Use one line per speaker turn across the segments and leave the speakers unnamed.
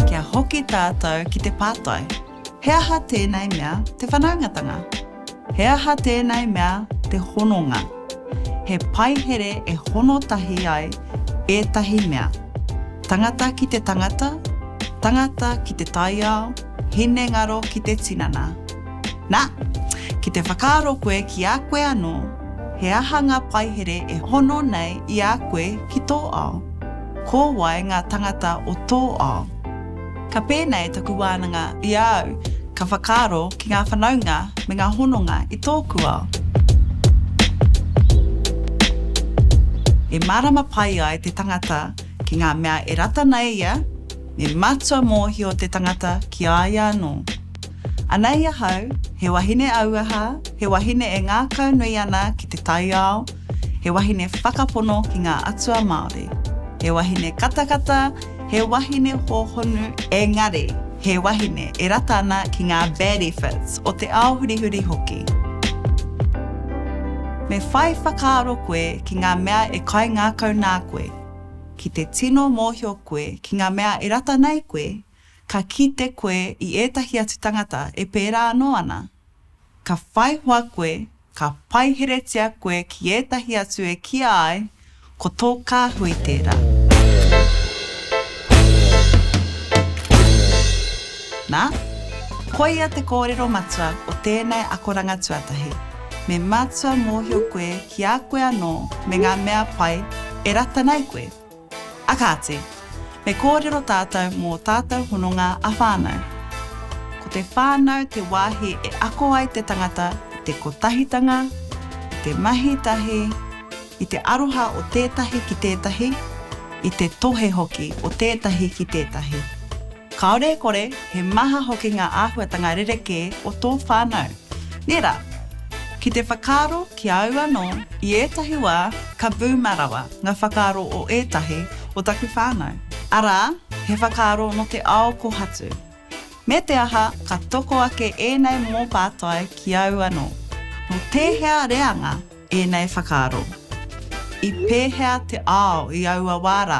Kia hoki tātou ki te pātai, He aha tēnei mea te whanaungatanga? He aha tēnei mea te hononga? He paihere e hono tahi ai ētahi mea, tangata ki te tangata, tangata ki te taiao, hinengaro ki te tinana. Na, ki te whakaaro koe ki a koe anō, he aha ngā paihere e hono nei i a koe ki tō ao? Ko wai ngā tangata o tō ao? Ka pēnei taku wānanga i a au, ka whakaaro ki ngā whanaunga me ngā hononga i tōku ao. E mārama pai ai te tangata ki ngā mea e rata ana e ia, me matua mōhio te tangata ki a ia anō. Anei ahau, he wahine auaha, he wahine e ngākaunui ana ki te taiao, he wahine whakapono ki ngā atua Māori, he wahine katakata, He wahine hōhonu engari he wahine e rata ana ki ngā benefits o te ao hurihuri hoki. Me whai whakaaro koe ki ngā mea e kaingākau nā koe. Ki te tino mōhio koe ki ngā mea e rata nei koe, ka kite koe i ētahi atu tangata e pērā anō ana. Ka whai hoa koe, ka paiheretia koe ki ētahi atu e kīa ai, ko tō kāhui tērā. Nā, koia te kōrero matua o tēnei akoranga tuatahi, me mātua mōhio koe ki a koe anō me ngā mea pai e rata nei koe. A kāti, me kōrero tātou mō tātou hononga ā-whānau. Ko te whānau te wāhi e ako ai te tangata i te kotahitanga, i te mahi tahi, i te aroha o tētahi ki tētahi, i te tohe hoki o tētahi ki tētahi. Kāore e kore, he maha hoki ngā āhuatanga rerekē o tō whānau. Nē rā! Ki te whakaaro ki a au anō, i ētahi wā, ka boomer rawa ngā whakaaro o ētahi o taku whānau. Arā, he whakaaro nō te ao kōhatu. Me te aha, ka toko ake ēnei momo pātai ki au anō, Nō tēhea reanga Ēnei whakaaro. I pēhea te ao i aua wā rā?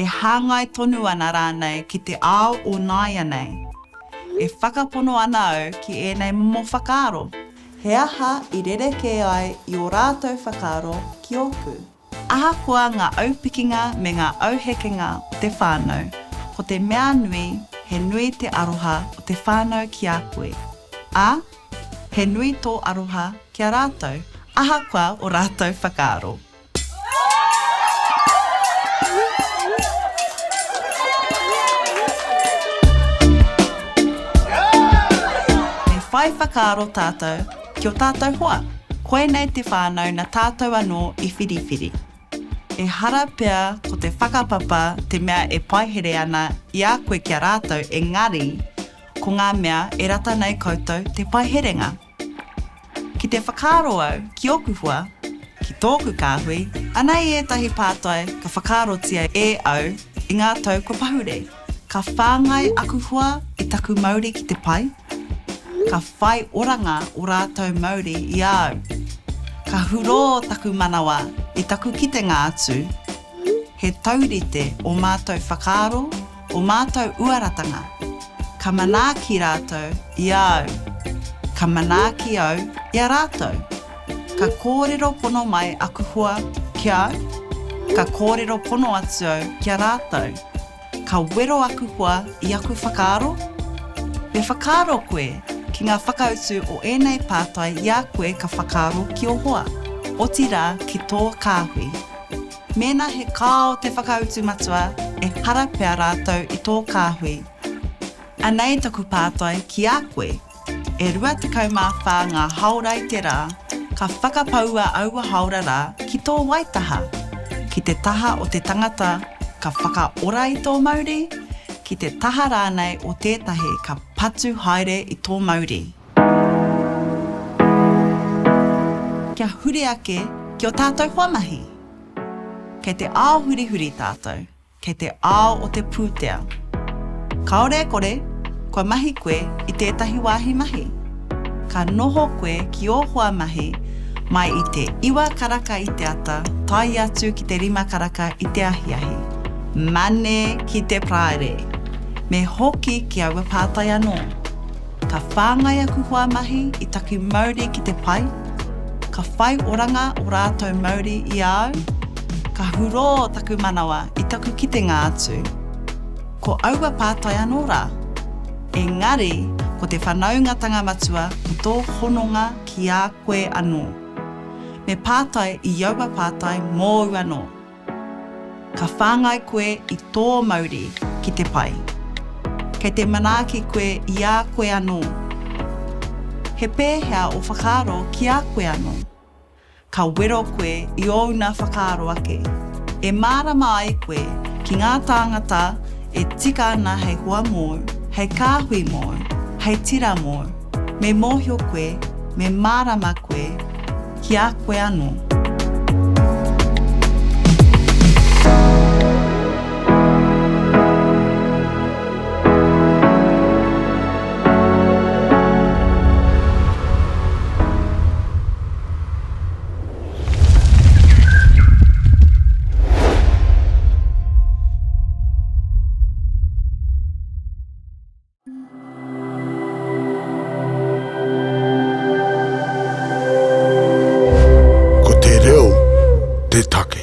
E hāngai tonu ana rānei ki te ao o nāianei? E whakapono ana au ki ēnei momo whakaaro. He aha i rerekē ai i ō rātou whakaaro ki ōku? Ahakoa ngā aupikinga me ngā auhekenga o te whānau, ko te mea nui, he nui te aroha o te whānau ki a koe, ā, he nui tō aroha ki a rātou, ahakoa ō rātou whakaaro. Me whai whakaaro tātou. Ki o tātou hoa, koinei te whānau na tātou anō i whiriwhiri. Ehara pea ko te whakapapa te mea e paihere ana i a koe ki a rātou engari ko ngā mea e rata nei koutou te paiherenga. Ki te whakaaro au ki oku hoa, ki tōku kāhui, anei ētahi pātai ka whakaarotia e au i ngā tau kua pahure. Ka whāngai aku hoa i taku mauri ki te pai, ka whai oranga o rātou mauri i a au. Ka hurō taku manawa i taku kitenga atu, he taurite ō mātou whakaaro, ō mātou uaratanga. Ka manaaki rātou i a au, ka manaaki au i a rātou. Ka kōrero pono mai aku hoa ki a au, ka kōrero pono atu au ki a rātou. Ka wero aku hoa i aku whakaaro? Me whakaaro koe ki ngā whakautu o ēnei pātai i a koe ka whakaaro ki ō hoa, otirā ki tō kāhui. Mēnā he kāo te whakautu matua, ehara pea rātou i tō kāhui. Anei taku pātai ki a koe. E rua tekau mā whā ngā haora i te rā, ka whakapaua aua haora rā ki tō waitaha, ki te taha o te tangata ka whakaora i tō mauri, ki te taha rānei o tētahi ka patu haere i tō mauri. Kia huri ake ki ō tātou hoa mahi. Kei te ao hurihuri tātou. Kei te ao o te pūtea. Kāore e kore, kua mahi koe i tētahi wāhi mahi. Ka noho koe ki ō hoa mahi mai i te iwa karaka i te ata tae atu ki te rima karaka i te ahiahi. Mane ki te Praire! Me hoki ki aua pātai anō. Ka whāngai aku hoa mahi i taku mauri ki te pai, ka whai oranga o rātou mauri i a au, ka hurō taku manawa i taku kitenga atu. Ko aua pātai anō rā. Engari, ko te whanaungatanga matua ko tō hononga ki a koe anō. Me pātai i aua pātai mōu anō. Ka whāngai koe i tō mauri ki te pai. Kei te manaaki koe i a koe anō. He pēhea ō whakaaro ki a koe anō? Ka wero koe i ōna whakaaro ake, e mārama ai koe ki ngā tāngata e tika ana hei hoa mōu, hei kāhui mōu, hei tira mōu. Me mōhio koe, me mārama koe, ki a koe anō. Ko te reo te take.